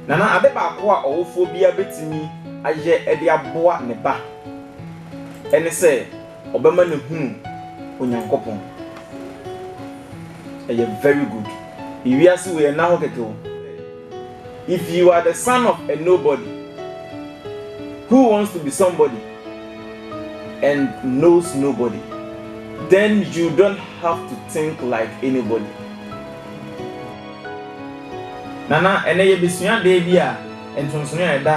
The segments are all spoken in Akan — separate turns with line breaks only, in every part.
Na na ade baako a ɔwofoɔ biara bɛtumi ayɛ de aboa ne ba ne sɛ ɔbɛma no ahunu Onyankopɔn. Ɛyɛ very good. Ewiase wei ɛnna hɔ kɛkɛ o. If you are the son of a nobody who wants to be somebody and knows nobody, then you don't have to think like anybody. Nana, ɛnɛ yɛbɛsua adeɛ bi a nsonsonoeɛ a ɛda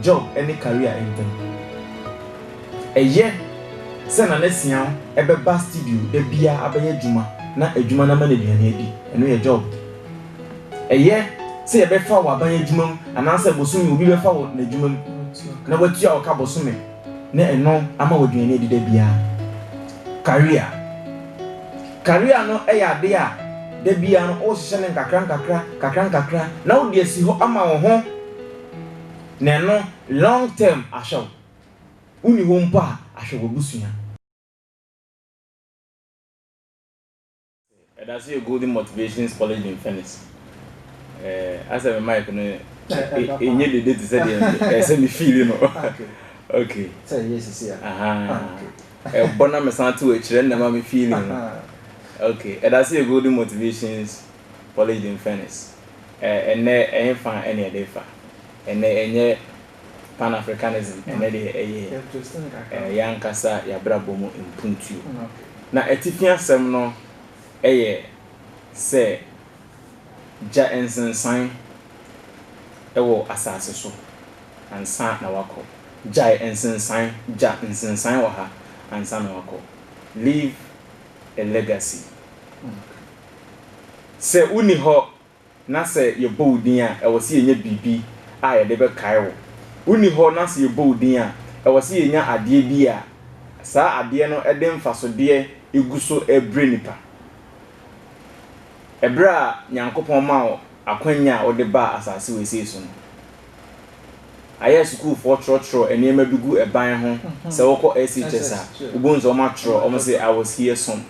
job ne career ntam. Ɛyɛ sɛ Nana Siaw bɛba studio da biara abɛyɛ adwuma na adwuma no ama no aduane adi, ɛno yɛ job. Ɛyɛ sɛ yɛbɛfa wo aban adwuma mu anaasɛ bosome obi bɛfa wo n'adwuma mu na watua wo ka bosome na ɛno ama wo aduane adi da biara. Career. Career no yɛ adeɛ a da biara no wohyehyɛ no nkakrankakra nkakrankakra na wode asi hɔ ama wo ho na ɛno long term ahwɛ wo. Wonni hɔ mpo a ahwɛ w'abusua. Ɛda so yɛ Golden Motivations College in Phoenix. Eh, asɛ me mic no ɛnyɛ dede te sɛ deɛ ɛsɛ me fiili no. Ok. Sɛ ɛyɛ sisi a.
Aha.
Ɛbɔ na mesan to akyirɛ na ma me fiili no. Ok. Ɛda so yɛ Golden Motivations College in Phoenix. Ɛnɛ ɛyɛ fa ɛne ɛde fa. Ɛnɛ ɛnyɛ. Pan-Africanism ɛnnɛ deɛ ɛyɛ yɛn ankasa yɛn abrabɔ mu mpuntuo. Na atifi asɛm no yɛ sɛ gya nsensan wɔ asase so ansa na woakɔ. Gyae nsensan, gya nsensan wɔ ha ansa na woakɔ. Leave a legacy. Sɛ wonni hɔ Na sɛ yɛbɔ wo din a, ɛwɔ sɛ yɛnya biribi a yɛde bɛkae wo. Wonni hɔ na sɛ yɛbɔ wo din a, ɛwɔ sɛ yɛnya adeɛ bi a saa adeɛ no de mfasodeɛ gu so brɛ nnipa. Ɛberɛ a Nyankopɔn maa wo akwanya a wode baa asase wesee so no, ayɛ a sukuufoɔ twerɛtwerɛ nneɛma bi gu ban ho, sɛ wokɔ SHS a, wobɛhu sɛ wɔatwerɛ wɔn se I was here som.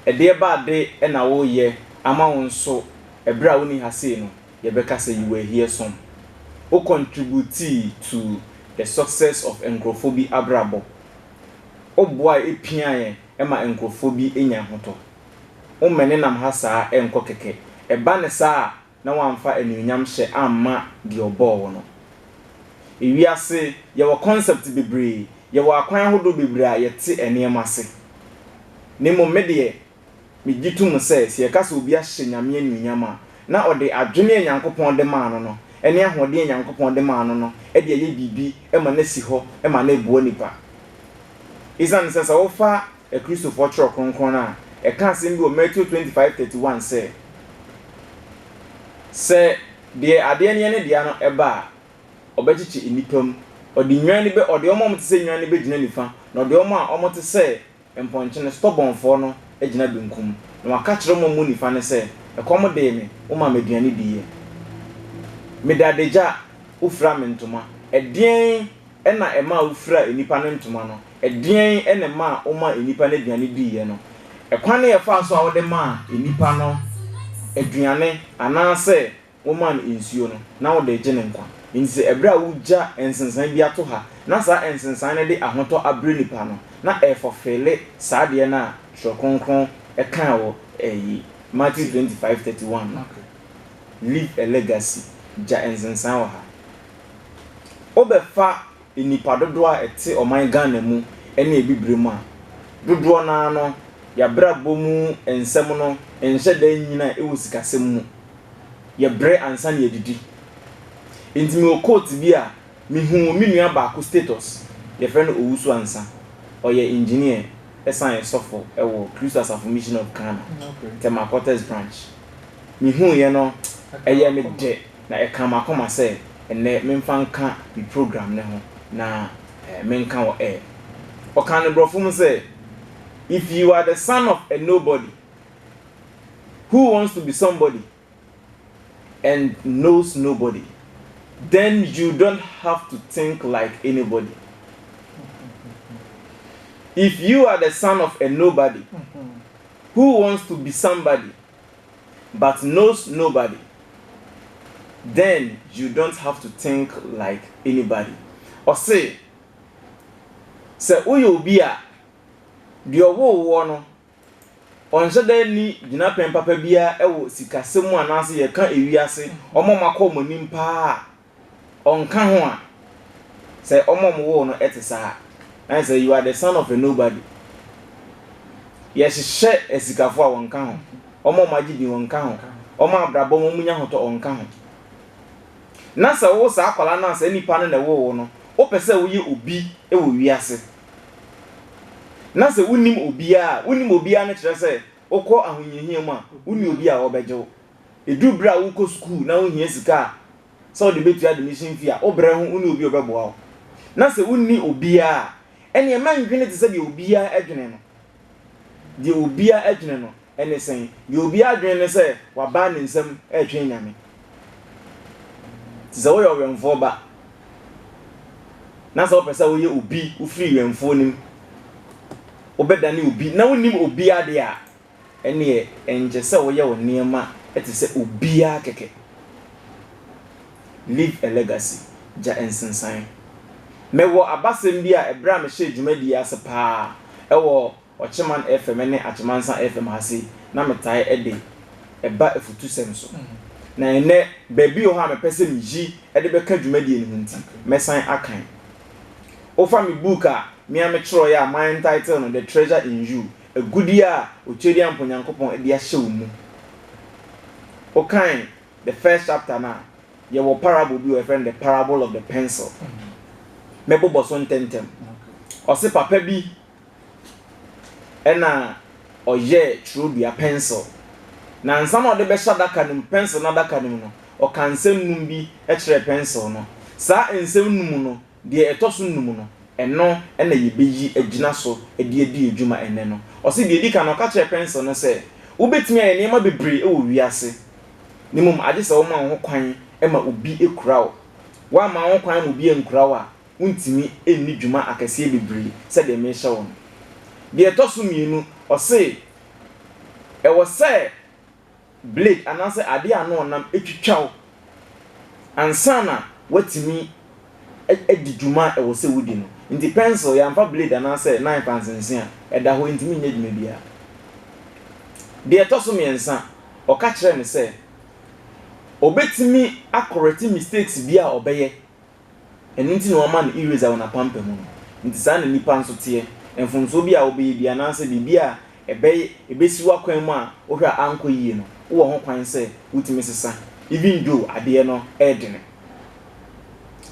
Ɛdeɛ ba ade na woreyɛ ama wo nso ɛberɛ a wonni ha sei no yɛbɛka sɛ you were here some wo contributii to the success of nkorɔfoɔ bi abrabɔ wo boaɛ piaɛ ma nkorɔfoɔ bi nya ahotɔ wo mmɛne nam ha saa nkɔ kɛkɛ ɛba ne saa a na woamfa anuonyam hyɛ amma deɛ ɔbɔɔ wo no ewiase yɛwɔ concept bebree yɛwɔ akwan ahodoɔ bebree a yɛte nneɛma ase na mmom me deɛ. Migye tom sɛ, sɛ yɛka sɛ obi ahyɛ Nyame anuonyam a, na ɔde adwene a Nyankopɔn de maa no no ne ahoɔden a Nyankopɔn de maa no no de ayɛ biribi ma no asi hɔ ma no aboa nnipa. Esiane sɛ, sɛ wofa Akristofoɔ Twerɛ Kronkron no a, ɛka asɛm bi wɔ Mateo twenty five thirty one sɛ, Sɛ deɛ adeɛ no yɛ ne dea no ba a, ɔbɛkyekye nnipa mu, ɔde nnwan no bɛ, ɔde wɔn a wɔte sɛ nnwan no bɛgyina nifa, na ɔde wɔn a wɔte sɛ Mpɔnkye no stɔbɔnfɔɔ no gyina benkum, na wɔaka akyerɛ wɔn a wɔwɔ nifa no sɛ, Ɛkɔm dee me, womaa me aduane diiɛ. Mede adagya, wofiraa me ntoma. Ɛdeɛn na ɛmaa wofiraa nnipa no ntoma no? Ɛdeɛn na ɛmaa womaa nnipa no aduane diiɛ no? Ɛkwan a yɛfaa so a wode maa nnipa no aduane anaasɛ wɔmaa no nsuo no, na wɔde regye ne nkwa. Enti sɛ ɛberɛ a wogya nsensan bi ato ha na saa nsensan no de ahotɔ abrɛ nipa no, na ɛrefɔfeele saa adeɛ no a Twerɛ Kronkron kaa wɔ ɛyi, Matthew twenty five thirty one no, Leave a legacy, gya nsensan wɔ ha. Wobɛfa nnipa dodoɔ a ɛte ɔman Ghana mu ne Abibire mu a, dodoɔ no ara no, y'abrabɔ mu nsɛm no nhyɛ da nnyina wɔ sikasɛm mu. Yɛbrɛ ansa na yɛadidi. Nti mewɔ quote bi a mehuu me nua baako status, yɛfrɛ no Owusu Ansah, ɔyɛ engineer ɛsan yɛ sɔfo wɔ Kristo Asafo Mission of Ghana, Tema Quarters Branch. Mehuuiɛ no, ɛyɛɛ me dɛ. Na ɛkaa m'akoma sɛ ɛnnɛ memfa nka me program no ho na menka wɔ air. Ɔkaa no Borɔfo mu sɛ, If you are the son of a nobody who wants to be somebody and knows nobody, then you don't have to think like anybody. If you are the son of a nobody who wants to be somebody, but knows nobody then you don't have to think like anybody Ɔse sɛ woyɛ obi a deɛ ɔwoo woɔ no ɔnhyɛ da nni gyinapɛn papa biara wɔ sikasɛm mu anaase yɛka ewiase ɔma ɔmakɔ ɔmanim paa a Ɔnka ho a, sɛ wɔn a wɔwoo wo no te saa a, na kyerɛ sɛ you are the son of a nobody. Yɛhyehyɛ asikafo a, wɔnka ho. Wɔn a wɔagye din, wɔnka ho. Wɔn a abrabɔ mu wɔnya ahotɔ, wɔnka ho. Na sɛ wowo saa akwadaa no a, saa nipa no na ɛwoo wo no, wopɛ sɛ woyɛ obi wɔ wiase. Na sɛ wonnim obiara a, wonnim obiara no kyerɛ sɛ wokɔ ahohiahia mu a, wonni obi a ɔbɛgye wo. Ɛduru berɛ a worekɔ sukuu na wohia sika a sɛ wode bɛtua admission fee a, wobrɛ ho wonni obi a ɔbɛboa wo. Na sɛ wonni obiara a, ɛnneɛ mɛndwene te sɛ deɛ obiara dwene no. Deɛ obiara dwene no ne sɛn? Deɛ obiara dwene ne sɛ wabaa ne nsam retwɛn Nyame. Te sɛ woyɛ ɔwɛmfoɔ ba, na sɛ wopɛ sɛ woyɛ obi, wofiri wɛmfoɔ no mu, wobɛdane obi, na wonnim obiara deɛ a, Ɛnneɛ ɛnkyɛ sɛ woyɛ wo nneɛma te sɛ obiara kɛkɛ. Leave a legacy, Gya nsensan. Mewɔ abasɛm bi a ɛberɛ a mehyɛɛ dwumadie yi ase pa ara wɔ Ɔkyeman FM ne Akyemansa FM ha sei na metae de ba afutusɛm so. Na ɛnnɛ baabi wɔ hɔ a mepɛ sɛ meyi de bɛka dwumadie no ho nti mɛsan akan. Wofa me book a me ara metwerɛeɛ a ma entitle no The Treasure in You Agudeɛ a Otuadiampɔ Nyankopɔn de ahyɛ wo mu. Wo kan the first chapter no a, yɛ wɔ parable bi wɔ yɛfrɛ no the parable of the pencil. Mɛ bobɔ so ntɛntɛm. Ɔse papa bi ɛna ɔyɛ twerɛdua pencil. Na nsa na ɔde bɛhyɛ adaka no mu, pencil no adaka no mu no, ɔka nsɛm num bi kyerɛ pencil no. Saa nsɛm num no Deɛ ɛtɔ so nnum no, ɛno na yɛbɛyi agyina so de adi adwuma ɛnnɛ no. Ɔse, deɛ ɛdi kan no, ɔka kyerɛɛ Prensil no sɛ, Wobɛtumi ayɛ nneɛma bebree wɔ wiase, na mmom agye sɛ woma wo ho kwan ma obi kura wo. Woamma wo ho kwan amma obi ankura wo a, wontumi nni dwuma akɛseɛ bebree sɛdeɛ merehyɛ wo no. Deɛ ɛtɔ so mmienu, ɔse, Ɛwɔ sɛ blade anaasɛ adeɛ a na ɔnam twitwa wo ansa na woatumi adi dwuma a ɛwɔ sɛ wodi no. Nti pɛnsel, yɛamfa blade anaasɛ knife ansensene a, ɛda hɔ, ɛntumi nyɛ dwuma biara. Deɛ ɛtɔ so mmiɛnsa, ɔka kyerɛɛ me sɛ ɔbɛtumi akɔrɛte mistakes bi a ɔbɛyɛ Ɛno nti na wɔama no eraser wɔ n'apampam no. Enti saa na nnipa nso teɛ. Mfomsoɔ bi a wobɛyɛ biara anaasɛ biribi a ɛbɛy ɛbɛsi w'akwan mu a wohwɛ a ankɔ yie no, wowɔ ho kwan sɛ wotumi sesa even though adeɛ no yɛ dene.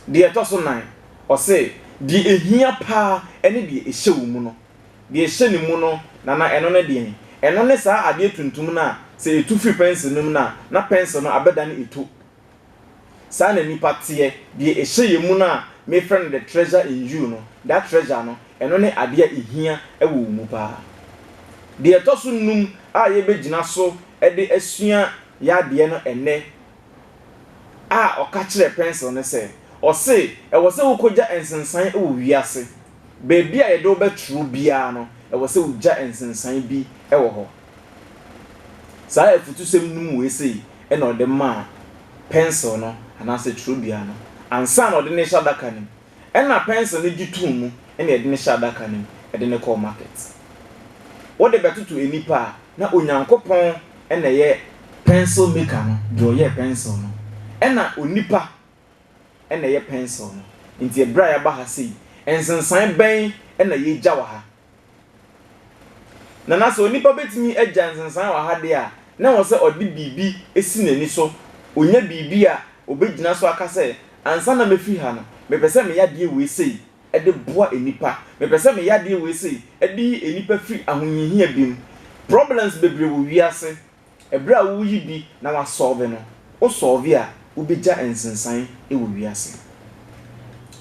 Deɛ ɛtɔ so nan, ɔse, deɛ ɛhia pa ara ne deɛ ɛhyɛ wo mu no. Deɛ ɛhyɛ ne mu no, Nana, ɛno ne deɛn? Ɛno ne saa adeɛ tuntum no a sɛ ɛtu firi pɛnsel no mu no a, na pɛnsel no abɛdane ɛtu. Saa na nnipa teɛ. Deɛ ɛhyɛ yɛn mu no a mefrɛ no the treasure in you no, that treasure no, ɛno ne adeɛ a ɛhia wɔ wo mu pa ara. Deɛ ɛtɔ so nnum a yɛbɛgyina so de asua yɛn adeɛ no ɛnnɛ a ɔka kyerɛɛ pɛnsel ne sɛ, ɔse ɛwɔ sɛ wokɔgya nsensan wɔ wiase. Baabi a yɛde wo bɛtwerɛ biara no, ɛwɔ sɛ wogya nsensan bi wɔ hɔ. Saa afutusɛm no mu wesee na ɔde maa pɛnsil no anaasɛ twerɛdua no ansa na ɔde no rehyɛ adaka no mu. Ɛnna pɛnsil no gye too mu na ɛde no hyɛɛ adaka no mu de no kɔɔ market. Wode bɛtoto nnipa a, na Onyankopɔn na ɛyɛ pencil maker no, deɛ ɔyɛɛ pɛnsil no. Ɛnna onipa na ɛyɛ pɛnsil no. Enti berɛ a yɛaba ha sei, nsensan bɛn na yɛregya wɔ ha? Na na sɛ onipa betumi agya nsensan wɔ ha de a, na ɛwɔ sɛ ɔde biribi si n'ani so, onya biribi a obegyina so aka sɛ, Ansa na mefi ha no, mepɛ sɛ meyɛ adeɛ wei sei de boa nnipa. Mepɛ sɛ meyɛ adeɛ wei sei de yi nnipa firi ahohiahia bi mu. Problems bebree wɔ wiase Ɛberɛ a woreyi bi na woasɔlve no, wosɔlve a, wobɛgya nsensan wɔ wiase.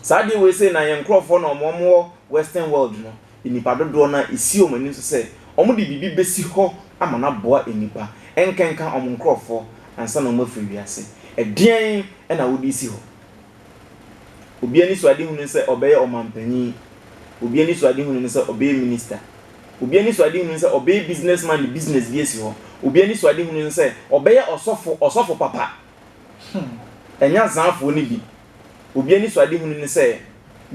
Saa adeɛ wei sei na yɛn nkorɔfoɔ na wɔn wɔ western world no, nnipa dodoɔ no ara ɛsi wɔn anim so sɛ wɔde biribi bɛsi hɔ ama no aboa nnipa, nkenka wɔn nkorɔfoɔ ansa na wɔafiri wiase. Ɛdeɛn na wode resi hɔ? Obi anisoadehu ne sɛ ɔbɛyɛ ɔmampanyin. Obi anisoadehu ne sɛ ɔbɛyɛ minista. Obi anisoadehu ne sɛ ɔbɛyɛ businessman de business bi asi hɔ. Obi anisoadehu ne sɛ ɔbɛyɛ ɔsɔfo, ɔsɔfo papa. Hmm. Ɛnyɛ azanfoɔ no bi. Obi anisoadehu ne sɛ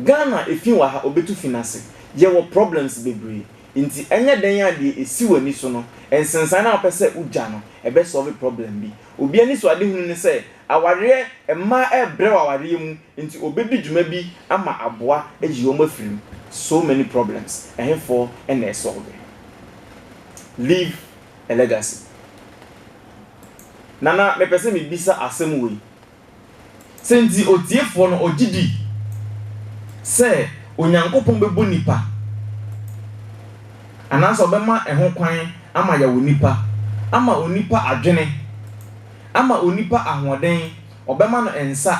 Ghana efi wɔ ha, ɔbɛtu fi no ase. Yɛwɔ problems bebree. Nti ɛnyɛ dɛn a deɛ ɛsi w'ani so no, nsensan no a wopɛ sɛ wogya no, ɛbɛsɔlve problem bi. Obi anisoadehunu ne sɛ awareɛ mmaa rebrɛ wɔ awareɛ mu nti ɔbɛdi dwuma bi ama aboa ayi wɔn afiri mu. So many problems, ɛhefoɔ na ɛsɔlve? Leave a legacy. Nana mepɛ sɛ mebisa asɛm wei. Sɛ nti otiefoɔ no ɔgye di sɛ Onyankopɔn bɛbɔ nnipa anaasɛ ɔbɛma ɛho kwan ama yɛawo nnipa, ama onipa adwene, ama onipa ahoɔden, ɔbɛma no nsa,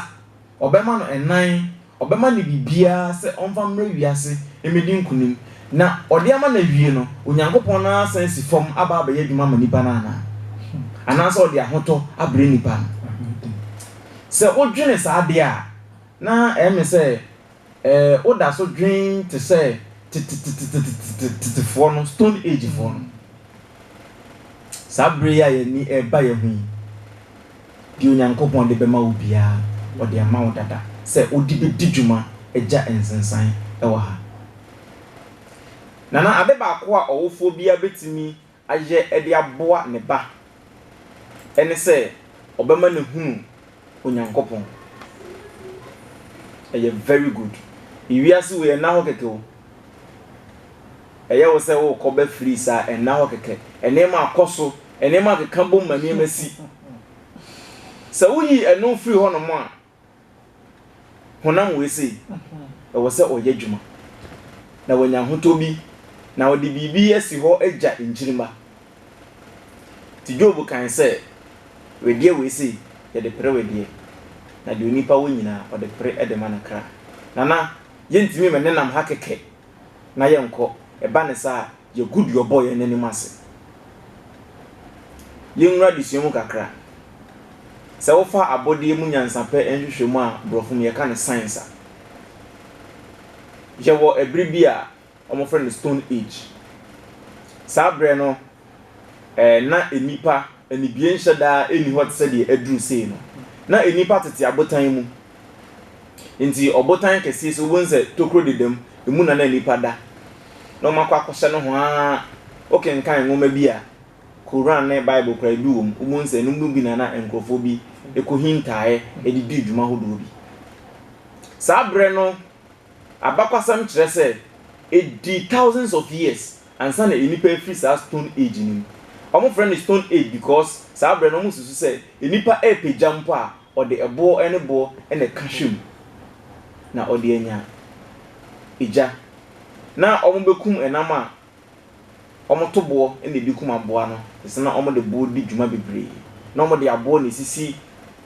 ɔbɛma no ɛnan, Ɔbɛma no biribiara sɛ ɔmfa mmrɛ wiase mmɛdi nkonim, na ɔde ama no awie no, Onyankopɔn no ara asan asi fam aba abɛyɛ adwuma ama nnipa no anaa? Anaasɛ ɔde ahotɔ abrɛ nnipa no? Sɛ wodwene saa de a, na ɛyɛ me sɛ woda so dwen te sɛ tetetetetetetetefoɔ no, Stone Agefoɔ no. Saa bere yi a yɛn ani reba yɛn ho yi, deɛ Onyankopɔn de bɛma wo biara, ɔde ama wo dada sɛ wode bɛdi dwuma agya nsensan wɔ ha. Nana, ade baako a ɔwofoɔ biara bɛtumi ayɛ de aboa ne ba ne sɛ ɔbɛma no ahunu Onyankopɔn. Ɛyɛ very good. Wiase wei ɛnna hɔ kɛkɛ o. Ɛyɛ wo sɛ wokɔ bɛ firi saa ɛnna hɔ kɛkɛ. Nneɛma akɔ so, nneɛma akeka bom ma nneɛma si. Sɛ woyi ɛno firi hɔnom a, honam wei sei, ɛwɔ sɛ ɔyɛ adwuma na wanya ahotɔ bi na ɔde biribi asi hɔ agya nkyirimma. Enti Job kae sɛ, Wedeɛ wei sei, yɛde pere wedeɛ, na deɛ onipa wɔ nyinaa, ɔde pere de ma ne kra. Nana, yɛntumi mma ɛnenam ha kɛkɛ na yɛnkɔ, ɛba no saa a, yɛagu deɛ ɔbɔɔ yɛn no anim ase. Yɛnwura adesua mu kakra. Sɛ wofa abɔdeɛ mu nyansapɛ nhwehwɛmu a borɔfo mu yɛka no science a, yɛwɔ ɛbere bi a, wɔfrɛ no Stone Age. Saa berɛ no, na nnipa anibienhyɛ daa nni hɔ te sɛ deɛ aduru sei no. Na nnipa tete abotan mu. Nti ɔbotan kɛseɛ si wobɛhu sɛ tokuro dedam, ɛmu na na nnipa da. Na wɔakɔ akɔhyɛ no ho ara. Wokenkan nwoma bi a, Koran ne Bible koraa bi wɔ mu, wobɛhu sɛ ɛno mu bi na na nkurɔfoɔ bi kɔhintaaeɛ de dii dwuma hodoɔ bi. Saa berɛ no, Abakɔsɛm kyerɛ sɛ edii thousands of years ansa na nnipa afiri saa Stone Age no mu. Wɔfrɛ no Stone Age because saa berɛ no wɔsusu sɛ nnipa repɛ gya mpo a, ɔde ɛboɔ ne boɔ na ɛka hwɛ mu na ɔde anya gya. Na wɔbɛkum ɛnam a wɔto boɔ na ɛdi kum aboa no te sɛ na wɔde boɔ di dwuma bebree na wɔde aboɔ na ɛsisi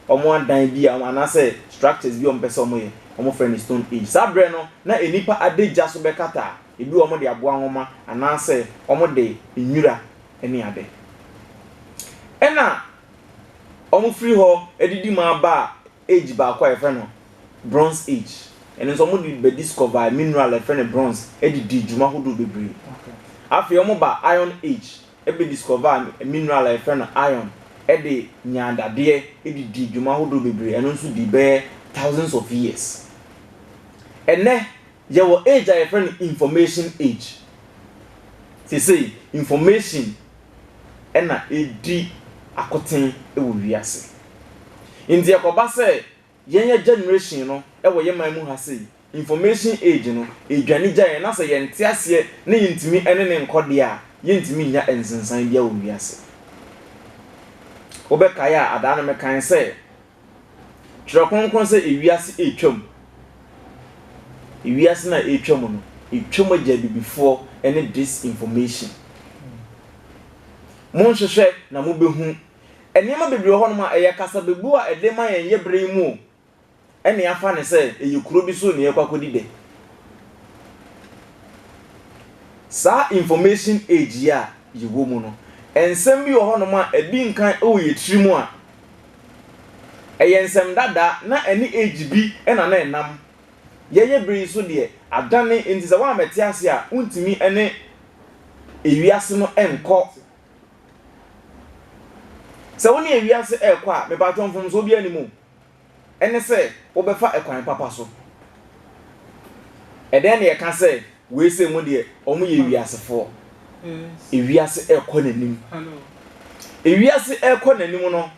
wɔn adan bi a anaasɛ structures bi a wɔpɛ sɛ wɔyɛ wɔfrɛ no stone age saa berɛ no na nnipa adagya so bɛkata a ebi wɔ wɔde aboa nwoma anaasɛ wɔde nwira ne ade ɛna wɔfiri hɔ de di mu aba a age baako a yɛfrɛ no Bronze Age. Ɛno nso wɔde bɛ discover mineral a yɛfrɛ no bronze de dii dwuma hodoɔ bebree. Afei wɔba Iron Age bɛ discover mineral a yɛfrɛ no iron de nyaa dadeɛ de dii dwuma hodoɔ bebree, ɛno nso dii bɛyɛ thousands of years. Ɛnnɛ Yɛwɔ age a yɛfrɛ no information age. Seesei information na ɛdi akoten wɔ wiase. Nti ɛkɔba sɛ yɛn yɛn generation no wɔ yɛn man mu ha sei, information age no ɛdwane gya yɛn na sɛ yɛnte aseɛ na yɛntumi ne no nkɔ deɛ a, yɛntumi nnya nsensan biara wɔ wiase. Wobɛkae a, adaa no mekae sɛ, Twerɛ Kronkron sɛ ewiase retwam. Ewiase no a ɛretwam no, ɛtwam agya abibifoɔ ne disinformation. Monhwehwɛ na mobɛhu. Nneɛma bebree wɔ hɔnom a ɛyɛ kasabebu a ɛde ma yɛn yɛ berɛ yi mu o. Ɛne afa ne sɛ ɛyɛ kuro bi so na yɛkɔ akɔdi dɛ. Saa information age yi a yɛwɔ mu no, nsɛm bi wɔ hɔnom a ɛdi nkan wɔ yɛn tirim a Ɛyɛ nsɛm dada, na ɛne age bi na na ɛnam. Yɛyɛ bere yi nso deɛ, adane, enti sɛ woammɛte ase a, wontumi ne ewiase no nkɔ. Sɛ wo ne ewiase rekɔ a, mepatwɔ mfomso biara nni mu. ne sɛ wobɛfa ɛkwan papa so. Ɛdɛn na yɛka sɛ wei sɛ mu deɛ wɔyɛ wiasefoɔ? Ewiase ɛrekɔ n'anim. Ewiase ɛrekɔ n'anim no,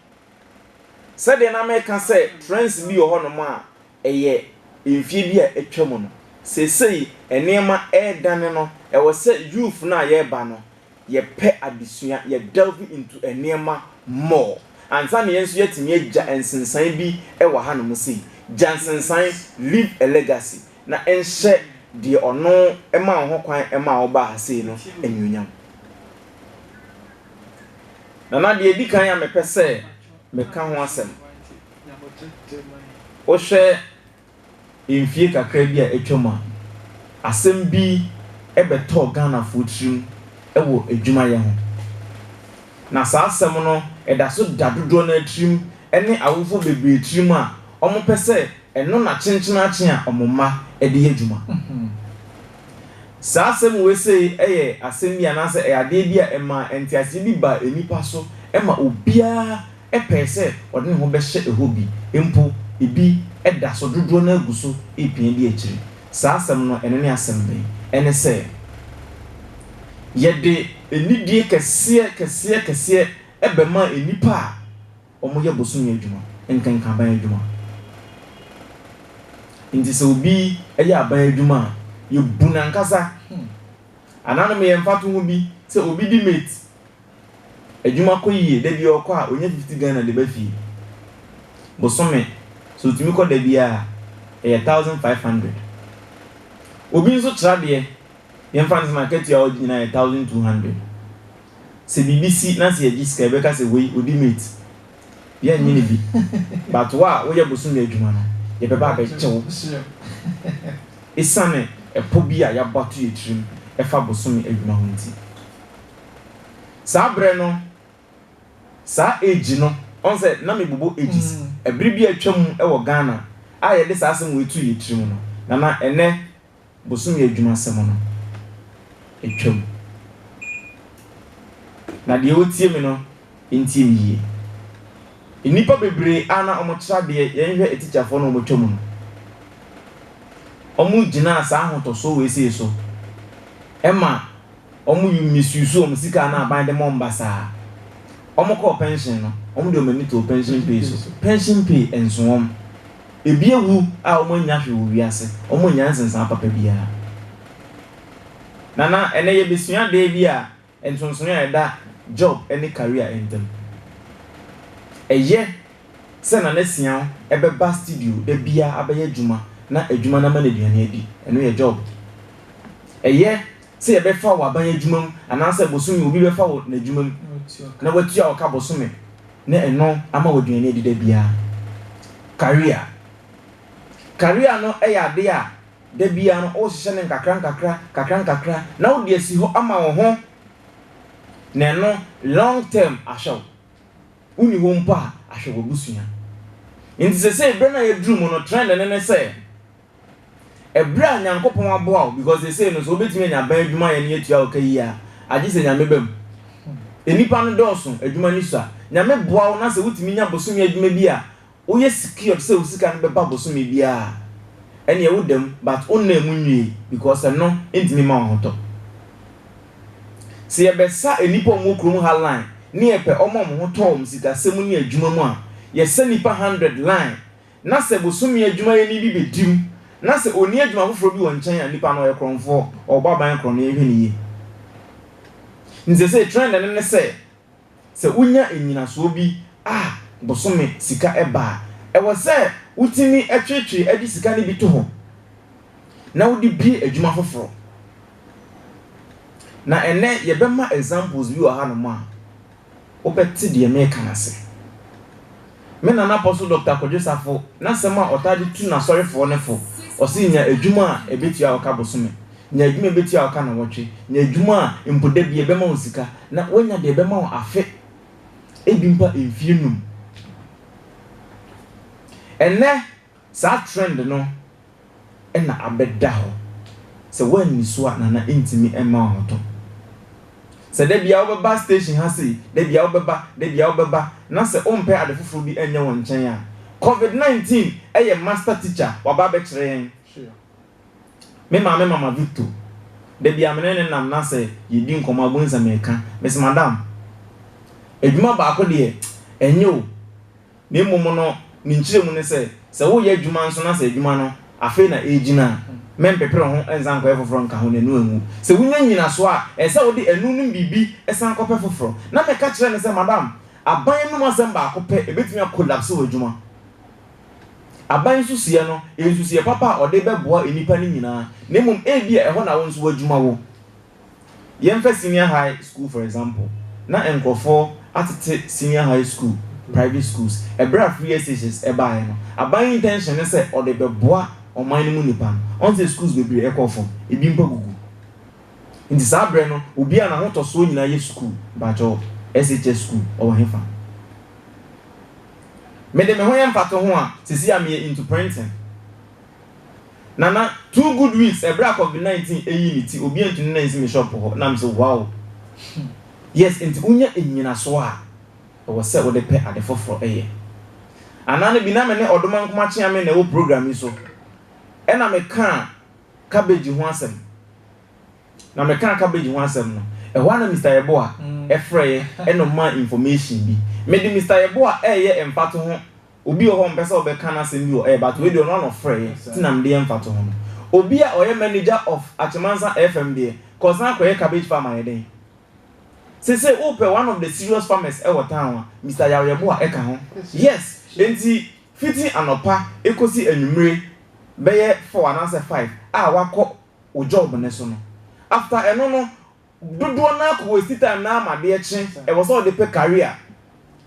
sɛdeɛ na meka sɛ trends bi wɔ hɔnom a ɛyɛ mfie bi a atwa mu no, seesei nneɛma ɛredane no, ɛwɔ sɛ youth no a yɛreba no, yɛpɛ adesua, yɛ delve into nneɛma more ansa na yɛn nso yɛatumi agya nsensan bi wɔ hanom sei. Gya nsensan, leave a legacy, na nhyɛ deɛ ɔno maa wo ho kwan maa wobaa ha sei no anuonyam. Nana, deɛ ɛdi kan a mepɛ sɛ meka ho asɛm, wohwɛ Mfie kakra bi a atwam a, asɛm bi bɛtɔɔ Ghanafoɔ tirim wɔ adwumayɛ ho. Na saa asɛm no da so da dodoɔ no ara tirim ne awofoɔ bebree tirim a wɔpɛ sɛ ɛno na kyenkyenaakyen a wɔn mma de yɛ adwuma. Saa asɛm wei sei yɛ asɛm bi anaasɛ ɛyɛ adeɛ bi a ɛmaa nteaseɛ bi baa nnipa so ma obiara pɛe sɛ ɔde ne ho bɛhyɛ hɔ bi, mpo ebi da so, dodoɔ no ara gu so repia di akyire. Saa asɛm no, ɛno ne asɛm bɛn? Ɛne sɛ, yɛde anidie kɛseɛ kɛseɛ kɛseɛ bɛma nnipa a wɔyɛ bosome adwuma, nkanka aban adwuma. Nti sɛ obi yɛ aban adwuma a, yɛbu no ankasa. Anaa no meyɛ mfatoho bi, sɛ obi di mate. Adwuma kɔ yie, da biaa ɔkɔ a ɔnya fifty Ghana de ba fie. Bosome so ɔtumi kɔ da biaa a, ɛyɛ thousand five hundred. Obi nso tra deɛ, deɛ mfa no sɛ n'akatua a ɔgye nyinaa yɛ thousand two hundred. Sɛ biribi si na sɛ yɛgye sika a, yɛbɛka sɛ wei ɔdi mate. Yɛnnye no bi. But wo a woyɛ bosome adwuma no, yɛbɛba abɛgye wo. Ɛsiane ɛpɔ bi a yɛabɔ ato yɛn tirim ɛfa bosome adwuma ho nti. Saa berɛ no, saa age no, ɔn sɛ na me bobɔ ages, ɛbere bi a atwa mu wɔ Ghana a yɛde saa asɛm wei too yɛn tiri mu no, na na ɛnnɛ bosome adwuma asɛm no atwa mu. Na deɛ ɔretie me no ntie me yie. Nnipa bebree a na wɔkyerɛ adeɛ, yɛn hwɛ atikyafoɔ no a wɔatwa mu no, wɔgyinaa saa ahotɔsoɔ wei sei so ma. Wɔmisusuw wɔn sika a na aban de ma wɔn basaa. Wɔkɔɔ pɛnhyen no, wɔde wɔn ani too pɛnhyen pay so. Pɛnhyen pay nso wɔn. Ebi awu a wɔannya hwee wɔ wiase, wɔannya nsensanaa papa biara. Nana, ɛnnɛ yebesua ade bi a nsonsonoe a ɛda Job ne Karia ntam. Ɛyɛ sɛ Nana Siaw bɛba studio da biara abɛyɛ adwuma na adwuma no ama no aduan adi. Ɛno yɛ Job. Ɛyɛ sɛ yɛbɛfa wo aban adwuma mu anaasɛ bosome obi bɛfa wo n'adwuma mu na watua wo ka bosome na ɛno ama wo aduane adi da biara. Career Career no yɛ adeɛ a da biara no wohyehyɛ no nkakrankakra nkakrankakra na wode asi hɔ ama wo ho na ɛno long term ahwɛ wo. Wonni hɔ mpo a ahwɛ w'abusua. Nti sesei berɛ no a yɛaduru mu no trend no ne sɛ Ɛberɛ a Nyankopɔn aboa wo, because seesei no sɛ wobɛtumi anya ban adwumayɛ no yɛtua wo ka yie a, agye sɛ Nyame ba mu. Nnipa no dɔɔso, adwuma no sua. Nyame boa wo na sɛ wotumi nya bosome adwuma bi a woyɛ secured sɛ wo sika no bɛba bosome biara a, ɛneɛ woda mu, but wo nna mu nwie because ɛno ntumi mma wo ahotɔ. Sɛ yɛbɛsa nnipa a wɔwɔ kurom ha line ne yɛpɛ wɔn a wɔn ho tɔ wɔn sikasɛm ne adwuma mu a, yɛsa nnipa hundred line na sɛ bosome adwumayɛni bi bɛdi mu na sɛ ɔnni adwuma foforɔ bi wɔ nkyɛn a, nipa no ɔyɛ korɔmfoɔ, ɔrebɔ aban korɔ na yɛnhwɛ no yie. Nti seesei trend no ne sɛ, sɛ wonya nnyinasoɔ bi a bosome sika ba a, ɛwɔ sɛ wotumi tweetwee de sika no bi to hɔ na wode bue adwuma foforɔ. Na ɛnnɛ yɛbɛma examples bi wɔ hanom a, Wobɛte deɛ mereka no ase. Me nana Apostle Doctor Kwadwo Safo n'asɛm a ɔtaa de tu n'asɔrefoɔ no fo, ɔse nya adwuma a ɛbɛtua wo ka bosome, nya adwuma a ɛbɛtua wo ka nnawɔtwe, nya adwuma a mpo da biara ɛbɛma wo sika, na woanya deɛ ɛbɛma wo afe, ebi mpo a mfeɛ num. Ɛnnɛ. Saa trend no na abɛda hɔ. Sɛ woanni so a Nana ntumi mma wo ahotɔ. Sɛ da biara wobɛba station ha sei, da biara wobɛba, da biara wobɛba na sɛ wompɛ ade foforo bi nyɛ wo nkyɛn a, Covid 19 yɛ master teacher waba abɛkyerɛ yɛn. Me maame Mama Victo, da biara me ne no nam na sɛ yɛdi nkɔmmɔ a wobɛhu sɛ meka, mese, Madam, adwuma baako deɛ ɛnyɛ o. na mmom no ne nkyerɛmu ne sɛ, sɛ woreyɛ adwuma nso na sɛ adwuma no afei na ɛregyina a, mɛmpepere ho nsan nkɔyɛ foforɔ nka ho na ɛno anwu. Sɛ wonya nnyinasoɔ a, ɛsɛ sɛ wode ɛno nom biribi san kɔpɛ foforɔ. Na meka kyerɛɛ no sɛ, Madam, aban anom asɛm baako pɛ bɛtumi akolapse w'adwuma. Aban nsusuiɛ no yɛ nsusuiɛ papa a wɔde bɛboa nnipa no nyinaa, na mmom ebia ɛhɔ na wo nso w'adwuma wɔ. Yɛmfa senior high school for example, na nkurɔfoɔ atete senior high school private schools, ɛberɛ a free SHS ɛbaeɛ no, aban intention ne sɛ ɔde bɛboa ɔman no mu nnipa no, ɔn sɛ schools bebree ɛkɔɔ fam, ebi mpo agugu. Nti saa berɛ no, obiara n'ahotɔsoɔ nyinaa yɛ school, mpakyɛw, SHS school ɔwɔ hefa? Mede me ho yɛ mfatoho a, seesei a meyɛ into printing. Nana, two good weeks ɛberɛ a covid 19 ɛyii ne ti obi antumi nna nsi me shop hɔ na mese wow yes enti wonya nnyinasoɔ a ɛwɔ sɛ wode pɛ ade foforɔ yɛ anaa no bi na me ne Ɔdoma Nkomakyeame na ɛwɔ program yi so ɛna me kaa cabbage ho asɛm na me kaa cabbage ho asɛm no ɛhɔ a na Mister Yeboa ɛfrɛɛ ɛna ɔmaa information bi mede Mister Yeboa ɛyɛ mfatoho Obi wɔ hɔ ɔmpɛ sɛ ɔbɛka n'asɛm bi wɔ air but wei deɛ ɔno ara na ɔfrɛeɛ nti na mede yɛ mfatoho no. Obi a ɔyɛ manager of Achemansa FM deɛ kɔsan kɔyɛ cabbage farm ayɛ dɛn? Seesei wopɛ one of the serious farmers wɔ town a Mister Yaw-Yɛboah ka ho. Yes, enti fiti anɔpa kɔsi anwummere bɛyɛ four anaasɛ five a woakɔ wo job no so no, after ɛno no, Dodoɔ no ara kɔ waste time na ama adeɛ kye, ɛwɔ sɛ ɔde pɛ career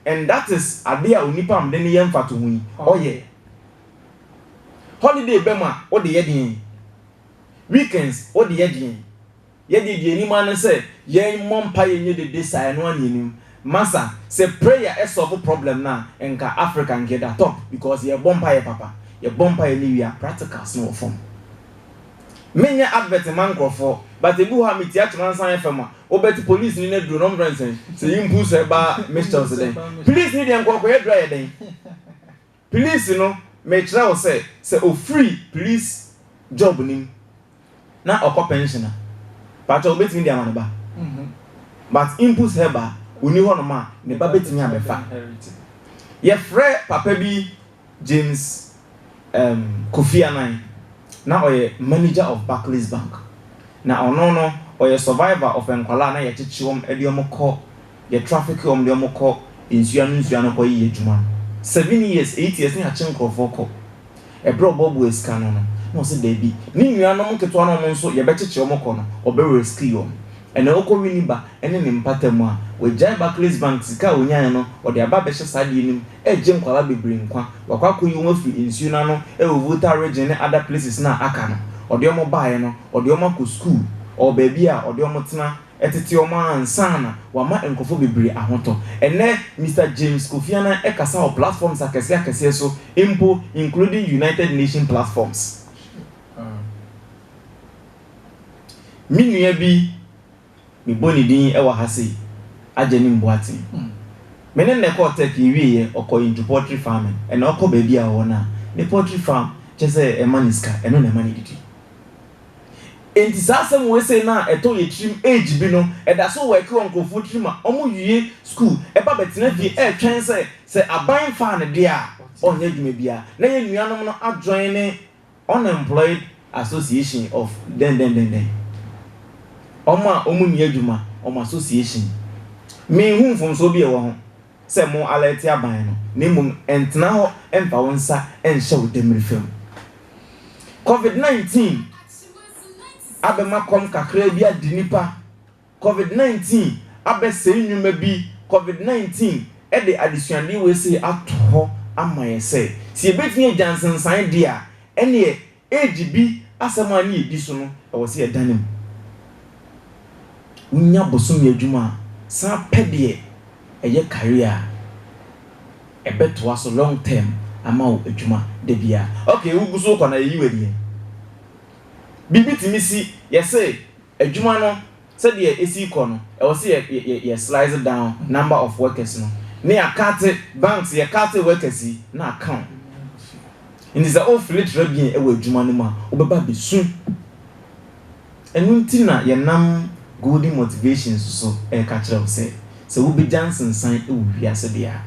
and that is adeɛ a onipa a mede no yɛ mfatoho yi ɔyɛ. Holiday bɛ mu a wo de yɛ deɛn? Weekends wo de yɛ deɛn? Yɛ deɛ deɛ ɛnim ara ne sɛ yɛ mmɔ mpaeɛ nyɛ dede saa ɛno ara na ɛnim. Masa sɛ prayer ɛ solve problem no a nka Africa nka ɛda top because yɛ bɔ mpaeɛ papa, yɛ bɔ mpaeɛ no wie a practicals no wɔ fam. Me nyɛ advert mma nkorɔfoɔ but ebi wɔ hɔ a me tia kyema nsa yɛ fɛ ma wo but police ni no aduro no ɔmo frɛ no sɛn sɛ yi mpu sɛ ba mistels dɛn police ni deɛ nkɔkɔ yɛ aduro ayɛ dɛn police no me kyerɛ wo sɛ sɛ ofiri police job no mu na ɔkɔ pension a pakyɛ wo bɛtumi de ama ne ba but impu sɛ ba ɔni hɔ nom a ne ba bɛtumi abɛfa yɛ frɛ papa bi James um Kofi Annan, na ɔyɛ manager of Barclays Bank. Na ɔno no ɔyɛ survivor of nkwadaa a na yɛkyekye wɔn de wɔn kɔ, yɛ traffic wɔn de wɔn kɔ nsuo ano nsuo ano kɔ yɛ adwuma no. Seven years, eight years na yɛakye nkorɔfoɔ kɔ. Ɛberɛ a ɔboaboaa sika no no, na ɔse daabi, ne nuanom nketewa no a wɔn nso yɛbɛkyekye wɔn kɔ no, ɔbɛ rescue wɔn. Ɛnna ɔkɔ wini ba ne ne mpata mu a, wagyae Barclays Bank sika a ɔnyaeɛ no, ɔde aba abɛhyɛ saa adeɛ no mu, regye nkwadaa bebree nkwa. Wakɔ akɔyi wɔn afiri nsuo no ano wɔ Volta Region ne other places no a aka no. Ɔde wɔn baeɛ no, ɔde wɔn akɔ sukuu. Ɔwɔ baabi a ɔde wɔn tena tete wɔn ansa na wama nkurɔfoɔ bebree ahotɔ. Ɛnnɛ, Mister James Kofi Annan kasa wɔ platforms akɛseɛ akɛseɛ so mpo, including United Nations platforms. Me nua bi. mebɔ ne din wɔ ha sei, Agyenim Boateng. Me ne no na ɛkɔɔ Turkey, yɛwieeɛ, ɔkɔɔ into poultry farming, ɛnna ɔkɔ baabi a ɔwɔ no a, ne poultry farm, kyerɛ sɛ ɛma no sika, ɛno na ɛma no didi. Enti saa asɛm wei sei no a ɛtɔ yɛn tirim age bi no, ɛda so work wɔ nkurɔfoɔ tirim a wɔwie sukuu, ɛba bɛtena fie retwɛn sɛ sɛ aban faa no deɛ a, ɔnyɛ adwuma biara, na yɛn nuanom no adwene ne Unemployed Association of dɛndɛndɛndɛn, wɔn a wɔn nni adwuma, wɔn association. Me nhu mfomsoɔ bi a ɛwɔ ho sɛ mo alɛɛte aban no, na mmom ntena hɔ mfa wo nsa nhyɛ wo dɛmirifa mu. Covid 19 abɛma kɔm kakraa bi ade nnipa. Covid nineteen abɛsɛe nnwuma bi Covid nineteen de adesuade wei sei ato hɔ ama yɛn sɛ, sɛ yɛbɛtumi agya nsensaneɛ deɛ a, ɛnneɛ age bi asɛm a ne yɛdi so no, ɛwɔ sɛ yɛdane mu. Wonya bosome adwuma a, san pɛ deɛ ɛyɛ career a ɛbɛtoa so long term ama wo adwuma da biara. Okay, wogu so rekɔ no a, yɛyi wo adiɛ. Biribi tumi si, yɛse. Adwuma no sɛdeɛ ɛsi rekɔ no, ɛwɔ sɛ yɛ yɛ yɛ yɛ slice down number of workers no, ne yɛ akate banks yɛ kate workers yi na aka wɔn. Nti sɛ wo fili trɛbien ɛwɔ adwuma no mu a, wo bɛba abɛsu. Ɛno nti na yɛ nam Golden Motivations so ɛreka kyerɛ wo sɛ, sɛ wo bɛgya nsensan ɛwɔ wiase deɛ a,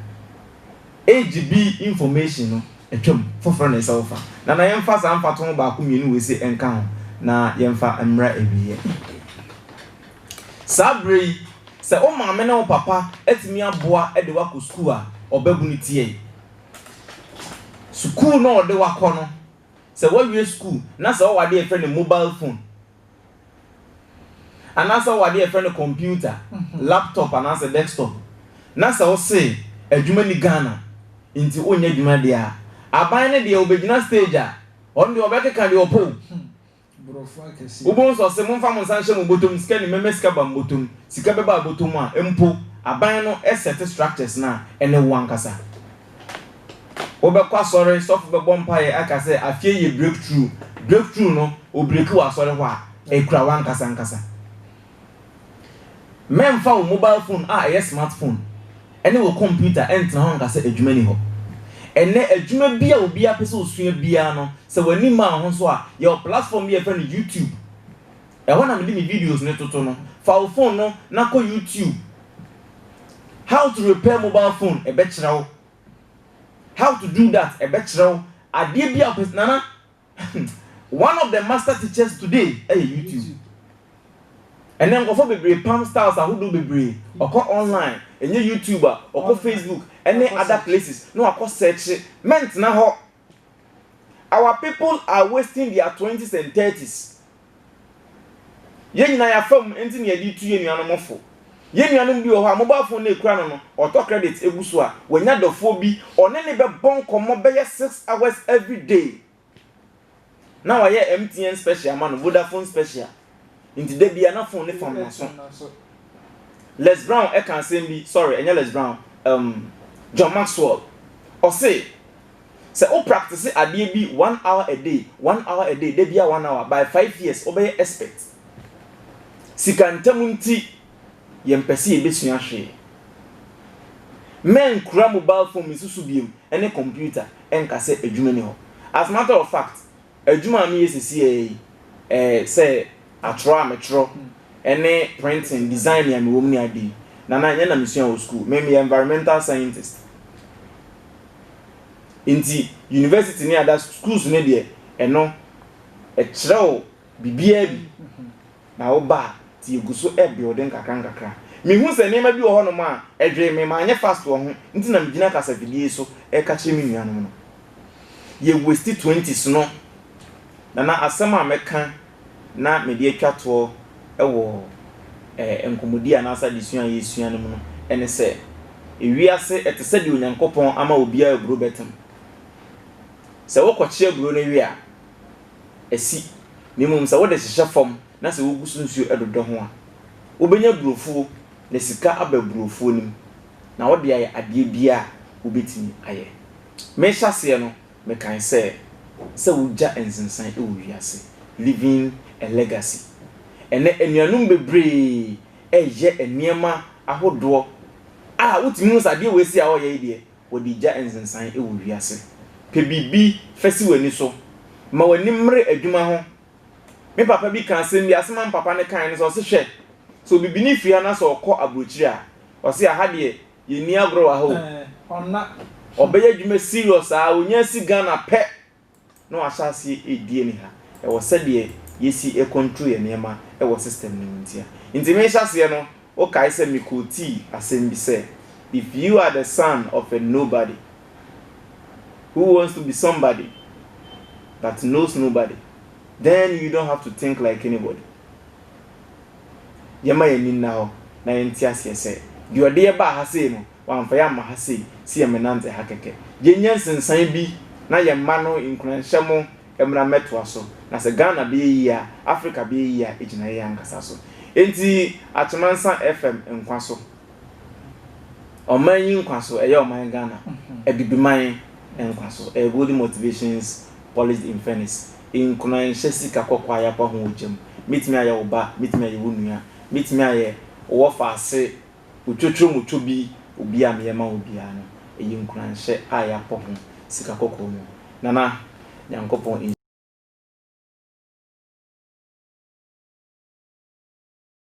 AGB information no atwam, foforɔ na ɛsɛ wo fa. Nana yɛmfa saa mfatoho baako mmienu wei se nka ho na yɛmfa mmra awieɛ. Saa berɛ yi, sɛ wo maame ne wo papa atumi aboa de wo akɔ sukuu a, ɔbabunu tiai. Sukuu no a ɔde wo akɔ no, sɛ woawie sukuu na sɛ wowɔ adeɛ a yɛfrɛ no mobile phone Anaasɛ wowɔ adeɛ a yɛfrɛ no computer, laptop anaasɛ desktop, na sɛ wose adwuma nni Ghana nti wonyɛ adwuma deɛ a, aban no deɛ wɔbɛgyina stage a, ɔno deɛ ɔbɛkeka deɛ ɔpɛ o. Wobɛhu sɛ ɔse momfa mo nsa nhyɛ mo bɔtɔm, sika ni mɛma sika aba me bɔtɔm, sika bɛba wo bɔtɔm a mpo, aban no sɛte structures no a ɛne wo ankasa. Wobɛkɔ asɔre, sɔfo bɛbɔ mpaeɛ aka sɛ afeɛ yɛ breakthrough, breakthrough no ɔbreki wɔ asɔre hɔ a, ɛkura wo ankasa ankasa. Mɛmfa wo mobile phone a ɛyɛ smart phone ne wo kɔmputa ntena hɔ nka sɛ adwuma nni hɔ. Ɛnnɛ adwuma bi a obiara pɛ sɛ ɔsua biara no, sɛ w'ani mmaa wo ho so a, yɛwɔ platform bi a yɛfrɛ no YouTube. Ɛhɔ na mede me videos no toto no. Fa wo phone no na kɔ YouTube. how to repair mobile phone ɛbɛkyerɛ wo how to do that ɛbɛkyerɛ wo adeɛ bi a ɔpɛ nana one of the master teachers today ɛyɛ youtube ɛnɛ nkɔfɔ bebree pam styles ahodoɔ bebree ɔkɔ online ɛnyɛ youtube a ɔkɔ facebook ɛne other places na wakɔ search mɛntena hɔ Our people are wasting their twenties and thirties. Yɛn nyinaa yɛafa mu, ɛnti na yɛde retu yɛn nuanom fo. Yɛn nuanom bi wɔ hɔ a, mobile phone no ekura no no, ɔtɔ credit egu so a, wanya dɔfoɔ bi, ɔne no bɛbɔ nkɔmmɔ bɛyɛ six hours every day. Na wayɛ MTN special ma no, Vodafone special. Nti da bia na phone ne fam n'aso. Les Brown ɛka asɛm bi, sorry, ɛnyɛ Les Brown, um, John Maxwell. Ɔse, sɛ wo practice adeɛ bi one hour a day, one hour a day, da bia one hour, by five years, wobɛyɛ expert. Sika ntɛm nti, yɛmpɛ sɛ yɛbɛsua hwee. Mɛnkura mobile phone me nso so biom, ne kɔmputa nka sɛ adwuma nni hɔ. As a matter of fact, adwuma a meyɛ seesei yi sɛ atwerɛ a metwerɛ ne printing, design a mewɔ mu ne ade yi, Nana, ɛnyɛ na mesua wɔ sukuu. Me, meyɛ environmental scientist. Nti university ne ada schools no deɛ, ɛno, ɛkyerɛw biribiara bi. na wo ba a, nti yɛgu so rebuild nkakra nkakra. Mehu sɛ nneɛma bi wɔ hɔnom a, ɛdwee me, manyɛ fast wɔ ho, nti na megyina kasafidie yi so reka kyerɛ me nuanom no. Yɛ waste twenties no, na na asɛm a mɛka na mede atwa toɔ wɔ eh, nkɔmmɔdie anaasɛ adesua a yɛresua no mu no, ɛne sɛ, ewiase, ɛte sɛ deɛ Onyankopɔn ama obiara aburo bɛtem. Sɛ wokɔkye aburo no we a, asi, na mmom sɛ wode hyehyɛ fam na sɛ wogu so nsuo dodɔ ho a, wobɛnya burofuo na sika aba burofuo no mu, na wode ayɛ adeɛ biara a wobɛtumi ayɛ. Merehyɛ aseɛ no, mekae sɛ, Sɛ wogya nsensan wɔ wiase. Leaving a Legacy. Ɛnnɛ, anuanom bebree reyɛ nneɛma ahodoɔ a wotumi hu sɛ adeɛ wei sei a wɔreyɛ yi deɛ, Wɔde gya nsensan wɔ wiase. Pɛ biribi fa si w'ani so. Ma w'ani mmere adwuma ho. Me papa bi ka asɛm bi, asɛm a me papa no kae ne sɛ, ɔse, Hwɛ, sɛ obibini firi ha na sɛ ɔkɔ aburokyire a, ɔse, aha deɛ, yɛnni agorɔ wɔ ha o. Ɔbɛyɛ adwuma serious aa, ɔnya si Ghana pɛ na wahyɛ aseɛ ɛredi ani ha ɛwɔ sɛdeɛ yɛsi control yɛn nneɛma wɔ system no mu ntia nti mehyɛ aseɛ no wo kae sɛ me quotii asɛm bi sɛ if you are the son of a nobody who wants to be somebody but knows nobody then you don't have to think like anybody yɛma yɛn ani nna hɔ na yɛnte aseɛ sɛ deɛ ɔde yɛbaa ha sei no Wɔammfa yɛn amma ha se se yɛmmenantse ha kɛkɛ. Yɛnnya nsensan bi na yɛn mma no nkuranhyɛ mo mmra mmɛtoa so. Na sɛ Ghana bɛyɛ yie a, Africa bɛyɛ yie a ɛgyina yɛn ankasa so. Enti Akyemansah FM nkwa so. Ɔman yi nkwa so, ɛyɛ ɔman Ghana, Abibiman nkwa so, ɛyɛ Golden Motivations Polished in Furnace. Nkuranhyɛ sika kɔkɔɔ a yɛapa ho wɔ gya mu. Mɛtumi ayɛ wo ba, mɛtumi ayɛ wo nua, mɛtumi ayɛ wo wɔfa ase Otwotworo mu tɔ bi obi a meyɛ ma wo biara no, ɛyɛ nkuranhyɛ a yɛapɔ ho sika kɔkɔɔ mu. Nana, Nyankopɔn nhyira wo.